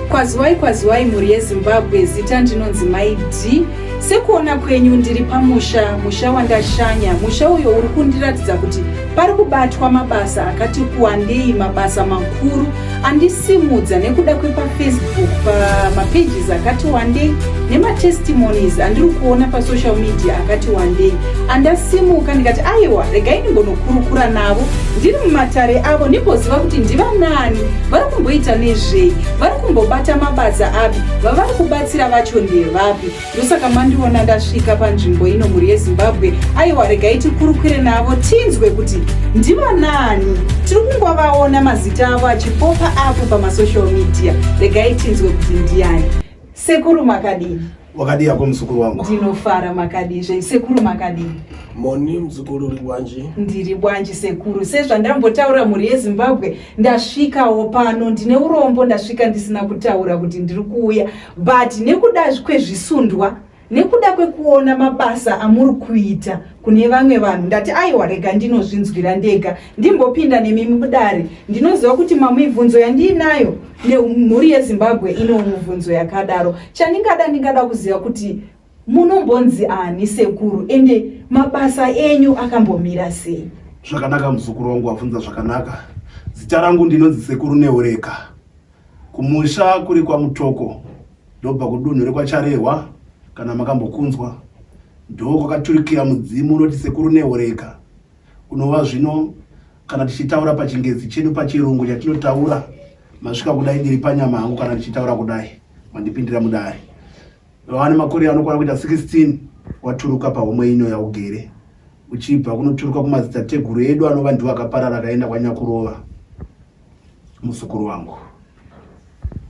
Kwaziwai kwaziwai mhuri yeZimbabwe zita ndinonzi Mai D. Sekuona kwenyu ndiri pamusha, musha wandashanya. Musha uyo uri kundiratidza kuti pari kubatwa mabasa akati kuwandei, mabasa makuru andisimudza nekuda kwepafacebook pamapages akati wandei nematestimonies andiri kuona pasocial media akati wandei. andasimuka ndikati aiwa regai ndimbonokurukura navo ndiri mumatare avo ndimboziva kuti ndivanani vari kumboita nezvei vari kumbobata mabasa api vavari kubatsira vacho ndevapi ndosaka mandiona ndasvika panzvimbo ino mhuri yezimbabwe aiwa regai tikurukure navo tinzwe kuti ndivanani tiri kungovaona mazita avo achipopa apo pamasocial media regai tinzwe kuti ndiani Sekuru makadini? Wakadii yako mzukuru wangu? Ndinofara makadii zvenyu sekuru makadii? Moni mzukuru uri bwanji? Ndiri bwanji sekuru. Sezvandambotaura mhuri yeZimbabwe ndasvikawo pano ndine urombo ndasvika ndisina kutaura kuti ndiri kuuya but nekuda kwezvisundwa nekuda kwekuona mabasa amuri kuita kune vamwe vanhu ndati aiwa rega ndinozvinzwira ndega ndimbopinda nemi mudare ndinoziva kuti mamibvunzo yandiinayo nemhuri yezimbabwe ino mubvunzo yakadaro chandingada ndingada kuziva kuti munombonzi ani sekuru ende mabasa enyu akambomira sei zvakanaka muzukuru wangu wabvunza zvakanaka zita rangu ndinonzi sekuru neureka Kumusha kuri kwaMutoko ndobva kudunhu rekwaCharehwa kana makambokunzwa ndoo kwakaturikira mudzimu unoti sekuru nehoreka unova zvino kana tichitaura pachingezi chedu pachirungu chatinotaura masvika kudai ndiri panyama hangu kana ndichitaura kudai mandipindira mudare vane makore anokwana kuita 16 waturuka pahomwe ino yaugere uchibva kunoturuka kumadzitateguru edu anova ndiwo akaparara akaenda kwanyakurova muzukuru wangu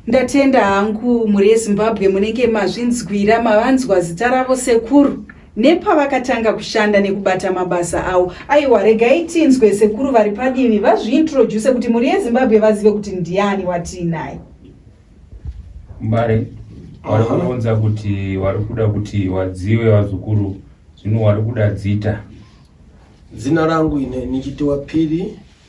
ndatenda hangu mhuri yezimbabwe munenge mazvinzwira mavanzwa zita ravo sekuru nepavakatanga kushanda nekubata mabasa avo aiwa regai tinzwe sekuru vari padivi vazviintroduse kuti mhuri yezimbabwe vazive kuti ndiani watiinaye mbare wari kuunza kuti wari kuda kuti wadziwe vazukuru zvino wari kuda dzita zina rangu ine nichitiwa phiri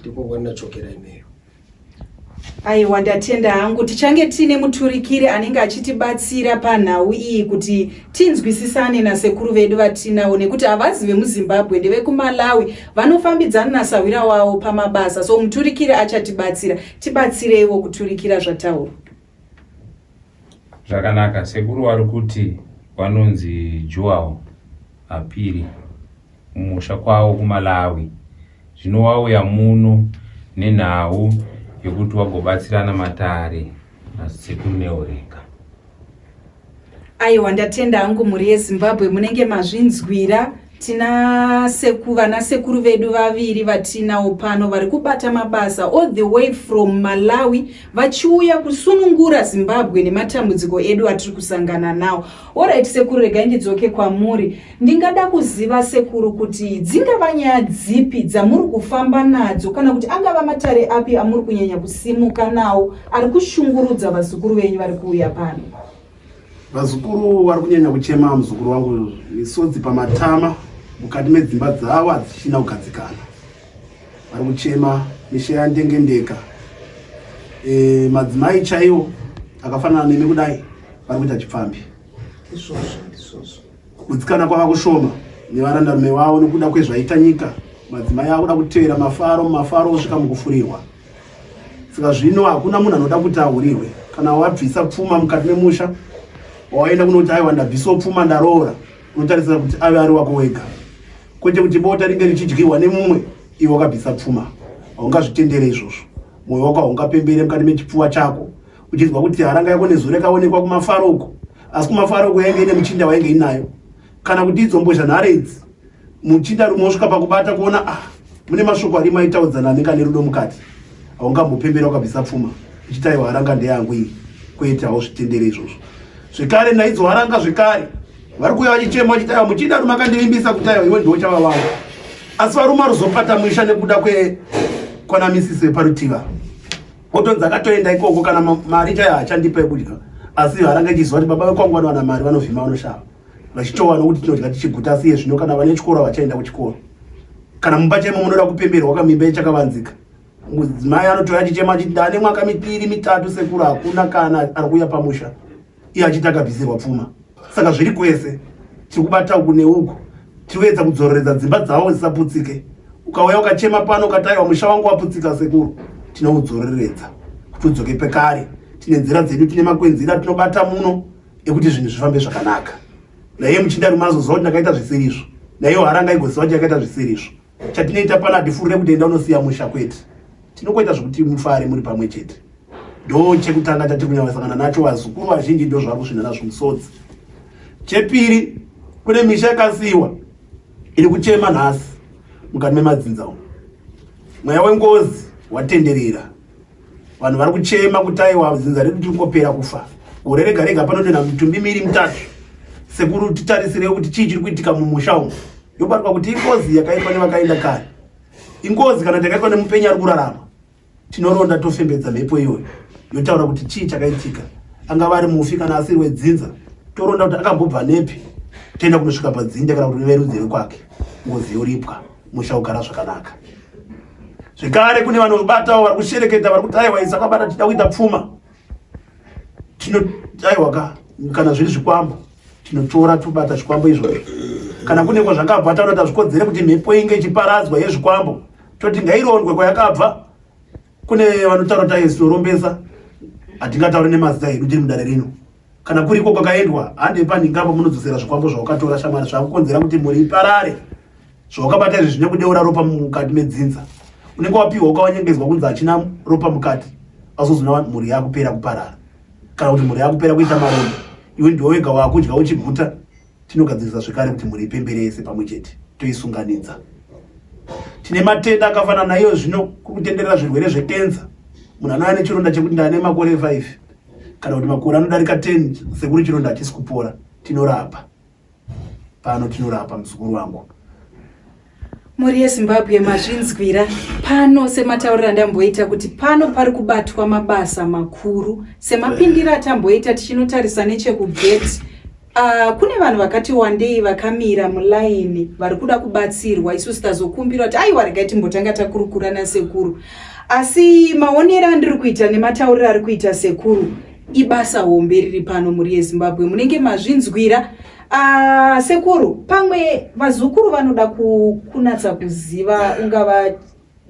Ndipo wana chokera imeyo. Aiwa ndatenda hangu tichange tiine muturikiri anenge achitibatsira panhau iyi kuti tinzwisisane nasekuru vedu vatinawo nekuti havazi vemuzimbabwe ndevekumalawi vanofambidzana nasahwira wavo pamabasa so muturikiri achatibatsira tibatsireiwo kuturikira zvataurwa Zvakanaka sekuru vari kuti vanonzi Joel Apiri mumusha kwavo kuMalawi. Zvino wauya muno nenhau yekuti wagobatsirana matare nasekuru Neoreka. Aiwa ndatenda hangu mhuri yeZimbabwe munenge mazvinzwira tina seku vana sekuru vedu vaviri vatinawo pano vari kubata mabasa all the way from malawi vachiuya kusunungura zimbabwe nematambudziko edu atiri kusangana nawo orit sekuru regai ndidzoke kwamuri Ndingada kuziva sekuru kuti dzingava nyaya dzipi dzamuri kufamba nadzo kana kuti angava matare api amuri kunyanya kusimuka nawo ari kushungurudza vazukuru venyu vari kuuya pano? Vazukuru vari kunyanya kuchema muzukuru wangu misodzi pamatama mukati medzimba dzavo hadzichina kugadzikana. Vari kuchema misha yandengendeka. E, madzimai chaiwo akafanana nemi kudai vari kuita chipfambi. Izvozvo, izvozvo. Kugutsikana kwava kushoma nevarandarume vavo nokuda kwezvaita nyika. Madzimai akuda kutevera mafaro mumafaro osvika mukufurirwa. Saka zvino hakuna munhu anoda kuti ahurirwe. Kana wabvisa pfuma mukati memusha, wawaenda kunoti aiwa ndabvisawo pfuma ndaroora, unotarisira kuti ave ari wako wega, kwete kuti bota ringe richidyiwa nemumwe iwe wakabvisa pfuma. Haungazvitendere izvozvo, mwoyo wako haungapembere mukati mechipfuva chako. uchinzwa kuti haranga yako nezuro yakaonekwa kumafaro uko asi kumafaro uko yainge ine muchinda wainge inayo kana kuti idzombozha nhare idzi muchinda rumwe osvika pakubata kuona ah mune mashoko arimo aitaudzana anenge ane rudo mukati haungambopembera ukabvisa pfuma ichitaiwa haranga ndeyangu iyi kwete hauzvitendere izvozvo zvekare naidzo haranga zvekare vari kuuya vachichema vachitaiwa muchinda rume akandivimbisa kutaiwa iwe ndiochava vangu asi varume aruzopata musha nekuda kwe kwanamisisi veparutiva Otonzi akatoenda ikoko kana mari chaiyo hachandipa yekudya asi haranga ichiziva kuti baba vekwangu vanowana mari vanovhima vanoshava vachitowana kuti tinodya tichiguta asi iye zvino kana vane chikoro havachaenda kuchikoro kana mumba chaimo munoda kupemberwa wakamimba ichakavanzika mudzimai anotoya chichema chiti ndane mwaka mipiri mitatu sekuru hakuna kana ari kuuya pamusha iye achiti akabvisirwa pfuma saka zviri kwese tiri kubata uku neuku tiri kuedza kudzororedza dzimba dzavo dzisaputsike ukauya ukachema pano ukataiwa musha wangu waputsika sekuru tinoudzororedza kuti udzoke pekare tine nzira dzedu tine makwenzira tinobata muno ekuti zvinhu zvifambe zvakanaka naiye muchinda rumazoziva kuti ndakaita zvisirizvo naiyo haranga igoziva kuti yakaita zvisirizvo chatinoita pano hatifurire kuti enda unosiya musha kwete tinokoita zvekuti mufare muri pamwe chete ndo chekutanga chatiri kunyanyasangana nacho vazukuru vazhinji ndo zvavari kusvina nazvo musodzi chepiri kune misha yakasiyiwa iri kuchema nhasi mukati memadzinza umu mweya wengozi watenderera vanhu vari kuchema kuti aiwa dzinza redu tiri kungopera kufa gore rega rega panotenda mitumbi miri mitatu sekuru titarisirei kuti chii chiri kuitika mumusha umu yobatwa kuti ingozi yakaitwa nevakaenda kare ingozi kana takaitwa nemupenyi ari kurarama tinoronda tofembedza mhepo iyoyo yotaura kuti chii chakaitika angava ari mufi kana asiri wedzinza toronda kuti akambobva nepi toenda kunosvika padzinda kana kuti verudzi vekwake ngozi yoripwa musha ugara zvakanaka zvekare kune vanobatawo vari kushereketa vari kuti aiwa isa kwabata tida kuita pfuma tino aiwa ka kana zviri zvikwambo tinotora tobata zvikwambo izvozvo kana kune kwazvakabva taona tazvikodzere kuti mhepo inge ichiparadzwa yezvikwambo toti ngairondwe kwayakabva kune vanotaura kuti aizorombesa hatingataure nemazita edu tiri mudare rino kana kuriko kwakaendwa hande panhingambo munodzosera zvikwambo zvawakatora shamwari zvakukonzera kuti mhuri iparare zvawakabata izvi zvine kudeura ropa mukati medzinza unenge wapiwa ukawanyengedzwa kunzi hachina ropa mukati azozona mhuri yakupera kuparara kana kuti mhuri yakupera kuita maronda iwe ndiwe wega wakudya uchiguta Tinogadzirisa zvekare kuti mhuri ipembere yese pamwe chete toisunganidza. Tine matenda akafanana naiyo zvino kutenderera zvirwere zvekenza. Munhu anouya nechironda chekuti ndane makore 5 kana kuti makore anodarika 10 sekuri chironda hachisi kupora. Tinorapa pano, tinorapa muzukuru wangu. mhuri yezimbabwe mazvinzwira pano sematauriro andamboita kuti pano pari kubatwa mabasa makuru semapindiro atamboita tichinotarisa nechekugeti uh, kune vanhu vakati wandei vakamira mulaini vari kuda kubatsirwa isu sitazokumbira kuti aiwa regai timbotanga takurukura nasekuru asi maonero andiri kuita nematauriro ari kuita sekuru ibasa hombe riri pano mhuri yezimbabwe munenge mazvinzwira Uh, sekuru pamwe vazukuru vanoda kunatsa kuziva ungava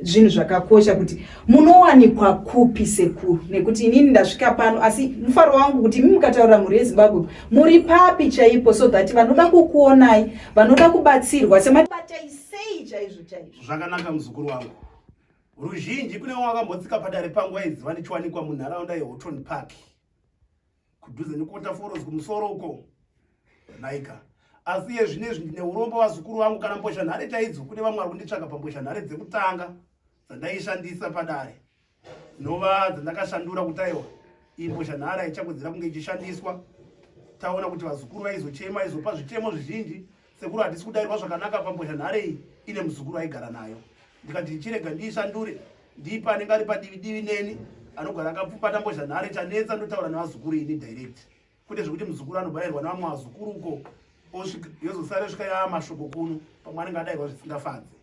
zvinhu zvakakosha kuti munowanikwa kupi sekuru nekuti inini ndasvika pano asi mufaro wangu kuti imi mukataura mhuri yezimbabwe muri papi chaipo so that vanoda kukuonai vanoda kubatsirwa semabatai sei chaizvo chaizvo zvakanaka muzukuru wangu ruzhinji kune wakambotsika padare pangu aiziva ndichiwanikwa munharaunda yehoton park kudhuze nekuota foros kumusoro uko naika asi iye zvine izvi ndine urombo vazukuru vangu kana mbozha nhare chaidzo kune vamwe vari kunditsvaga pambozha nhare dzekutanga dzandaishandisa padare dzinova dzandakashandura kuti aiwa iyi mbozha nhare haichakodzera kunge ichishandiswa taona kuti vazukuru vaizochema izopa zvichemo zvizhinji sekuru handisi kudairwa zvakanaka pambozha nhare iyi ine muzukuru aigara nayo ndikati ndichirega ndiishandure ndiipa anenge ari padivi divi neni anogara akapfupata mbozha nhare chanetsa ndotaura nevazukuru ini direct kwete zvekuti muzukuru anobairwa nevamwe vazukuru uko yozosara svika yaamashoko kuno pamwe anenge adairwa zvisingafadzi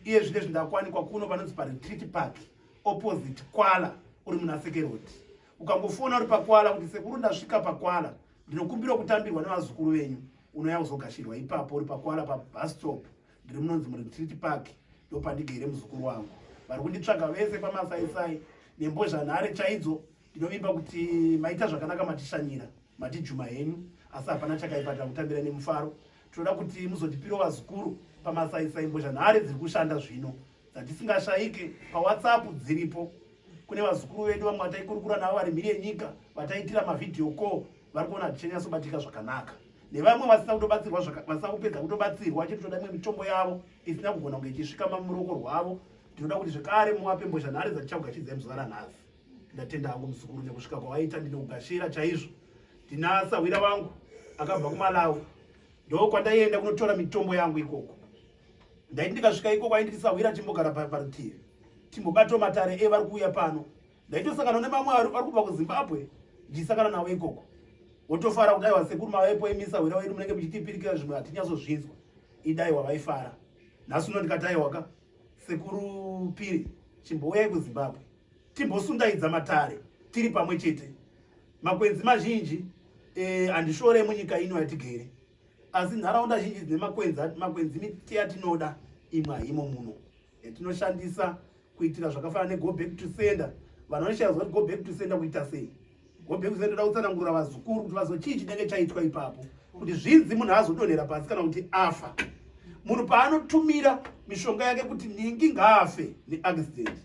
iye zvine zvindakwanikwa kuno panonzi paretreat park opposite kwala uri munasekeroti ukangofona uri pakwala kuti sekuru ndasvika pakwala ndinokumbira kutambirwa nevazukuru venyu unouya kuzogashirwa ipapo uri pakwala pabustop ndiri munonzi muretreat park ndopandigere muzukuru wangu vari kunditsvaga vese pamasaisai nembozhanhare chaidzo ndinovimba kuti maita zvakanaka matishanyira matijuma henyu asi hapana chakaipa takutambira nemufaro tinoda kuti muzotipiro vazukuru pamasaisai mbozha nhare dziri kushanda zvino dzatisingashaike pawhatsapp dziripo kune vazukuru vedu vamwe vataikurukura navo vari mhiri yenyika vataitira mavhidhiyo ko vari kuona zvichenyasobatika zvakanaka nevamwe vasina kutobatsirwa vasina kupedza kutobatsirwa chete toda imwe mitombo yavo isina kugona kunge ichisvika mamuroko rwavo tinoda kuti zvekare muwape mbozha nhare dzatichakugachidzai muzuva ranhasi ndatenda hangu muzukuru nekusvika kwawaita ndinogashira chaizvo ndinasa hwira vangu akabva kumalawi ndo kwandaienda kunotora mitombo yangu ikoko ndaiti ndikasvika ikoko ainditisahwira timbogara parutivi timbobato matare e vari kuuya pano ndaitosangana nemamwe vari kubva kuzimbabwe ndichisangana navo ikoko wotofara kudai wasekuru mavaepo emisa hwira wedu munenge muchitipirikira zvimwe hatinyatsozvinzwa idai wavaifara nhasi uno ndikataiwaka sekuru piri chimbouyai kuzimbabwe timbosundaidza matare tiri pamwe chete makwenzi mazhinji eh, handishore e, munyika ino yatigere asi nharaunda zhinji dzine makwenzi makwenzi miti yatinoda imwe haimo muno yatinoshandisa kuitira zvakafanana nego back to sender vanhu vanoshaya zoti go back to sender kuita sei go back to sender toda kutsanangurira vazukuru kuti vazo chii chinenge chaitwa ipapo kuti zvinzi munhu azodonhera pasi kana kuti afa munhu paanotumira mishonga yake kuti ningi ngaafe neaccident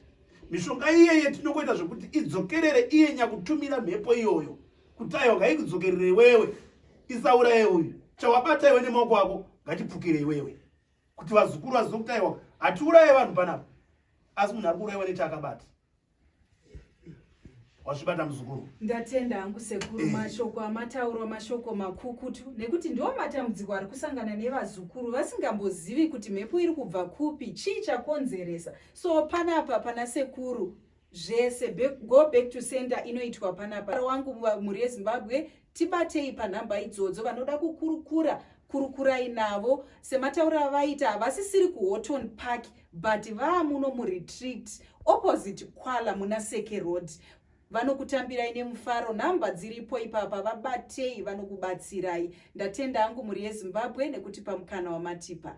mishonga iyeye tinongoita zvekuti idzokerere iye nyakutumira mhepo iyoyo kuti ayo ngaikudzokerere iwewe isauraye uyu chawabata iwe nemaoko ako ngatipfukire iwewe kuti vazukuru vazive kuti aiwa hatiuraye vanhu panapa asi munhu ari kuuraiwa nechaakabata wazvibata muzukuru ndatenda hangu sekuru eh. mashoko amataurwa mashoko makukutu nekuti ndiwo matambudziko ari kusangana nevazukuru vasingambozivi kuti mhepo iri kubva kupi chii chakonzeresa so panapa pana sekuru zvese go back to center inoitwa panapa wangu mhuri yezimbabwe Tibatei panhamba idzodzo vanoda kukurukura kurukurai navo semataura avaita havasisiri kuhoton park but vaamuno muretreat opposite kwala muna seke road vanokutambirai nemufaro nhamba dziripo ipapa vabatei vanokubatsirai ndatenda angu mhuri yezimbabwe nekuti pamukana wamatipa